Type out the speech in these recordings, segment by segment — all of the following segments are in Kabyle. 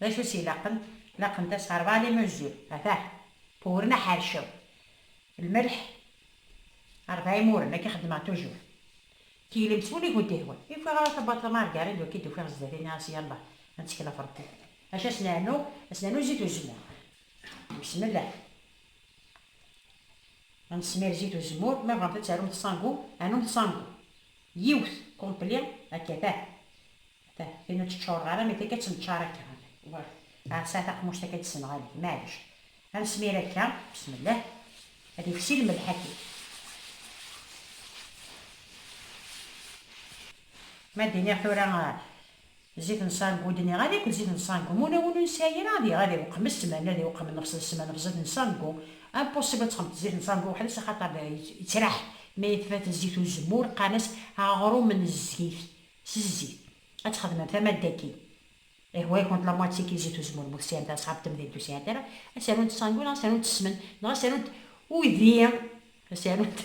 D acu i s-ilaqen? Laqent-as rebɛa n imunzi, atah, uwren aḥercaw, lmelḥ, rebɛa imuren, akka xeddmeɣ tujur. Teglemt s wul i kent-ihwan. I ufiɣ ara tabbaḍt a Margarid, ur k-id-ufiɣ zdat ini ɣas yallah, ad nettkel ɣef Rebbi. Acu ad s-nernu? Ad s-nernu zit uzemmur. Besmellah. Ad nesmir zit uzemmur, ma bɣamt ad tarumt ṣangu, anumt ṣangu. Yiwet, complet, akka atah. Ata, tin ur tt-ččureɣ ara, mi akka tt-neččar akka. Wah, ɛassa taqmuct akka d-ssenɣalen, maɛlic. Ad nesmir akka, besmellah, ad ifsi lmelḥ aki. Ma d-iniɣ tura zit n sangu, d-niɣ ad akk d zit n sangu, ma ula win ur nesɛi ara, ad iɣ, ad iweqqem d ssmana, ad iweqqem nnefṣ d ssmana ɣef zit n sangu. Impossible ad texmeḍ zit n sangu weḥd-s, axaṭer yettraḥ, ma yetfat zit uzemmur, qqaren-as aɣrum n zzit, S zzit. Ad txedmem tamadda-agi. Ih, wa ikont la moitié ki zit uzemmur bu tesɛimt asɣab temdint ur sɛint ara, ad s-arunt sangu neɣ ad s-arunt ssmen neɣ ad s-arunt uydi, ad s-arunt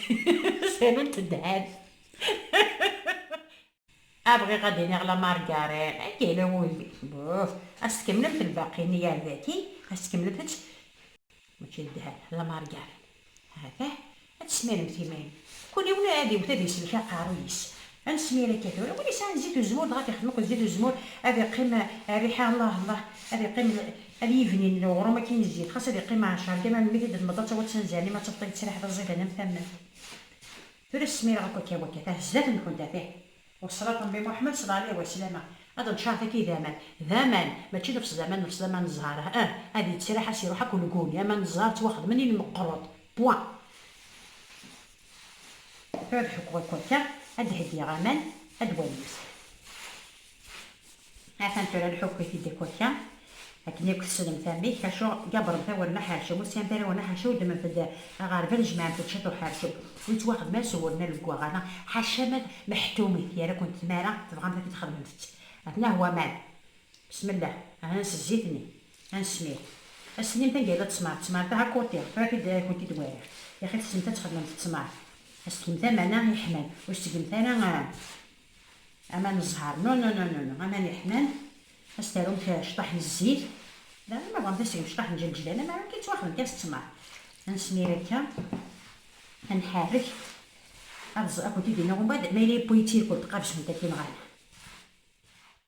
ad s-arunt ddheb. Ah, bɣiɣ ad d-iniɣ la margarine, anga yella wudi. Buf! Ad s-tkemmlemt lbaqi-nni ar daki, ad s-tkemmlemt ad. Mačči n ddheb, d ameṛǧeɛ. Atah, ad tesmiremt iman. Kul yiwen ad iwet ad iselk aqerruy-is. Ad nesmir akka tura. Win yesɛan zzit uzemmur dɣa ad t-ixdem akked zzit uzemmur, ad iqqim rriḥa Allah Allah, ad iqqim ad yibnin uɣrum akkin i zzit, xas ad iqqim ɛecṛ gama melmi t-id-temmḍ ad taweḍ s anzaren imi ad tafeḍ yettriḥ d aẓidan am tamment. Tura smireɣ akk akka wakka, atah zdat-nkent, atah. Wesraṭ Nnbi Muḥemmed sala ɛlih waslama, ad ncaṛ taki d aman, d aman, mačči nefs d aman, nefs d aman n zzheṛ, ah ah, ad yettraḥ ad s-iṛuḥ akk ulgun, aman n zzheṛ ttwaxedmen i lmeqṛuḍ, point. Tura ad ḥukkuɣ i wakka, ad d-heggiɣ aman, ad d-walimt. Atan tura nḥukk i tiddi kurka akken yakk tessnemt amek, acu gabbren tawuri n aḥercum, ur sɛint ara ur n aḥercum, ddment-d aɣerbal jemɛent-d ciṭ uḥercum ur yettwaxdem ara s uwur n aleggaɣ ala ḥaca ma d meḥtumit yerra-kent tmara tebɣamt akken txedmemt-tt atnah waman besmella ahnan s zzit-nni anesmir ad s-tinimt anga yella ttmeṛ ttmeṛ dah akuti tura tid ad kent-id wariɣ yaxi tessnemt ad txedmemt ttmeṛ ad s-tgemt aman-a yeḥman ur s-tgemt ara aman ẓẓher no no no no aman iḥman as tarum cṭaḥ n zzit daɣen ma bɣant asegm cṭaḥ n jelǧlan am arum kan ttwaxdem kan s ttmer ansmir akka anḥarrek ad ẓ akk didi neɣ umbad ma yella yewwi tirkul tqabzem takin ɣer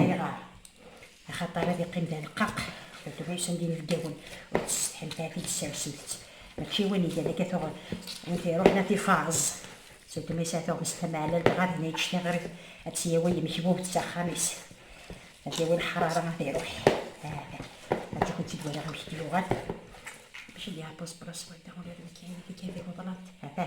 Ayɣer? Axaṭer ad iqqim d aleqqaq, tuṭbis anda inebgawen ur tessetḥimt ara tidesersemt-tt, mačči win igan akka tuɣ win t-iruḥen ad t-ifaẓ, tuṭbis ara tuɣmest tameɛlalt dɣa dinna yeǧǧ tiɣrit ad tt-yawi yemekbubt s axxam-is, ad yawi leḥrara ad iruḥ, aha, ad akent-id waliɣ amek d-yuɣal. Mačči d Yaɛpus Blas wadda, ula d nekk ayen i d-igan deg uḍlad, aha.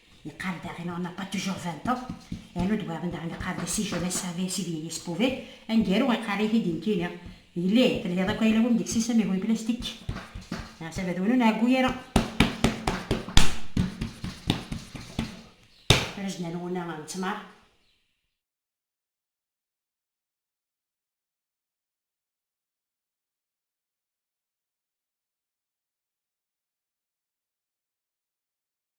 Yeqqar daɣen on n'a pas toujours vingt ans, yernu deg wayeḍ-n daɣen yeqqar-d si jeunesse savait si vieillesse pouvait, aneggaru iqqar-it-id nekkini, yelli telhiḍ akk ayla-w am deg-s isem ihu n plastik, leɛtab ad wen ur nɛeggu ara. Rejna n wunna n ttmer.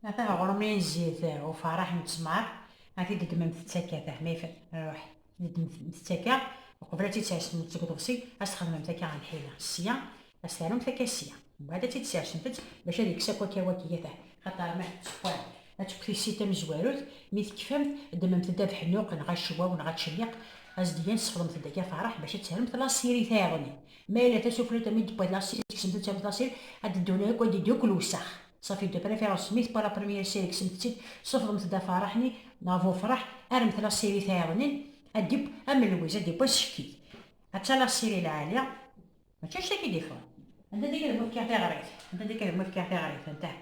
Atah ɣur-m ayen zzit uferreḥ n ttmer, ad t-id-ddmen tettak-a taḥmayt ruḥ id-ddmen tettak-a, uqbel ad tt-id-sersemt seg uḍebsi ad s-txedmemt akka a lḥila sya, ad s-terremt akka sya, mbaɛd ad tt-id-sersemt-tt bac ad ikkes akk akka waki atah, xaṭer ma tetteffeɣ ad tekk tissit tamezwarut, mi tekfamt ddmemt-d abeḥnuq neɣ acewwaw neɣ ačelliq, as-d-gan sexdemt-d akka ferreḥ bac ad terremt lasirit-iḍen. Ma yella tasuflut amid d-tewwa tlasil, kksemt-tt am tlasil, ad d-ddun akk, ad d-iddu akk lewsex. Safi de préférence mi tewwa la première série kksemt-tt-id, sufḍemt-d afarreḥ-nni neɣ bu ufreḥ, armet la série tayeḍnin, ad d-iww am lwiz, ad d-iww asekkit. Atta la série lɛali, mačči anect akka i d-ifɣen. Anda akka deg-m fkiɣ tiɣrit, anda akka deg-m fkiɣ tiɣrit, antah.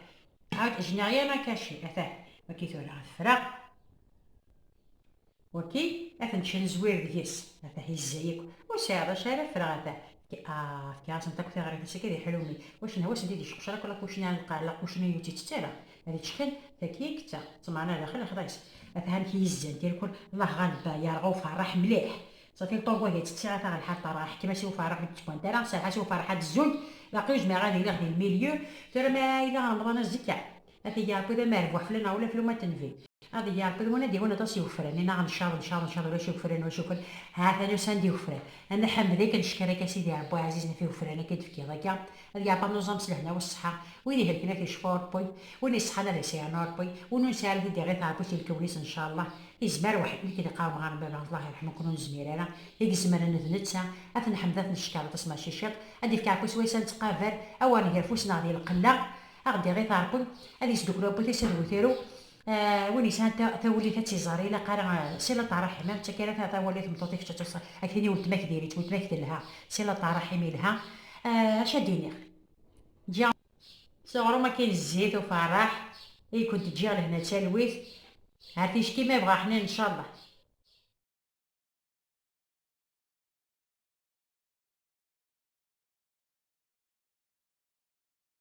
Ah, je n'ai rien à cacher, atah, wagi tura ad ffreɣ. Waki ad ten-ttnezwir deg-s, atah yezza yakk, ur sɛiɣ d acu ara ffreɣ atah, ah, fkiɣ-asen-d akk tiɣrit-is akka di ḥlumi, wacu neha wass-nni d iceqcer akk lakucni ar lqaɛ, lakucni ur tt-ittett ara, ad iččxin, taki i yettaɣ, ṭṭmeɛna daxel lexḍa-is, atah amek i yezzan tirkul, llah ɣalba, yerɣa uferreḥ mliḥ, safi lṭogo ad iţţiɣ atah lḥal terɣa, ḥkem-as i uferreḥ ur d-ţebbant ara, serreḥ-as i uferreḥ ad zzunt, baqi ur zmireɣ ad iliɣ di lmilieu, tura ma yella remḍan azekka, Ad t-id-iɛebbi d amerbuḥ fell-aneɣ ula fell-u ma d-tenvi. Ad iyi-iɛebbi d win ad d-yawin aṭas n yigefran, i naɣ ncaḍ, ncaḍ, ncaḍ ulac igefran, ulac igefran, ha ta nusan-d yigefran. A Nna Ḥmed akka neckeṛ akka a Sidi Ṛebbi aɛzizen ɣef yigefran akka i d-tefkiḍ akka, ad iɛebbi ad nuẓam s lehna u ṣṣeḥḥa, win ihelken ad t-icfu Ṛebbi, win iṣeḥḥan ad as-iɛnu Ṛebbi, win ur nesɛi ara ad t-id-iɣit Ṛebbi si lkawen-is n ccallaḥ, izmer weḥd nek i d-iqqarem ɣer Baba, Allah iṛeḥmen-ken ur nezmir ara, i izemren d netta, a t-nḥmed a t-neckeṛ aṭas mačči ciṭ, ad d-ifk Ṛebbi swayes a nettqaver, a wer nger afus-neɣ di lqella, A ɣ-d-iɣ i taṛkun, ad yesduklu abbu-t ass ad wutru, win yesɛan tawullit ad tt-iẓer, ilaq ara Silat Aṛaḥim, am d takka ara tawali tmeṭṭut i kečč ad tuṣ, ad k-tini weltma-k diri-tt, weltma-k telha, Silat Aṛaḥim ilha, acu ad d-iniɣ? Ǧǧiɣ. S uɣrum akkin zzit ufaṛeḥ, i kent-ǧǧiɣ lehna d talwit, ar ticki ma yebɣa Ḥnin ncallah.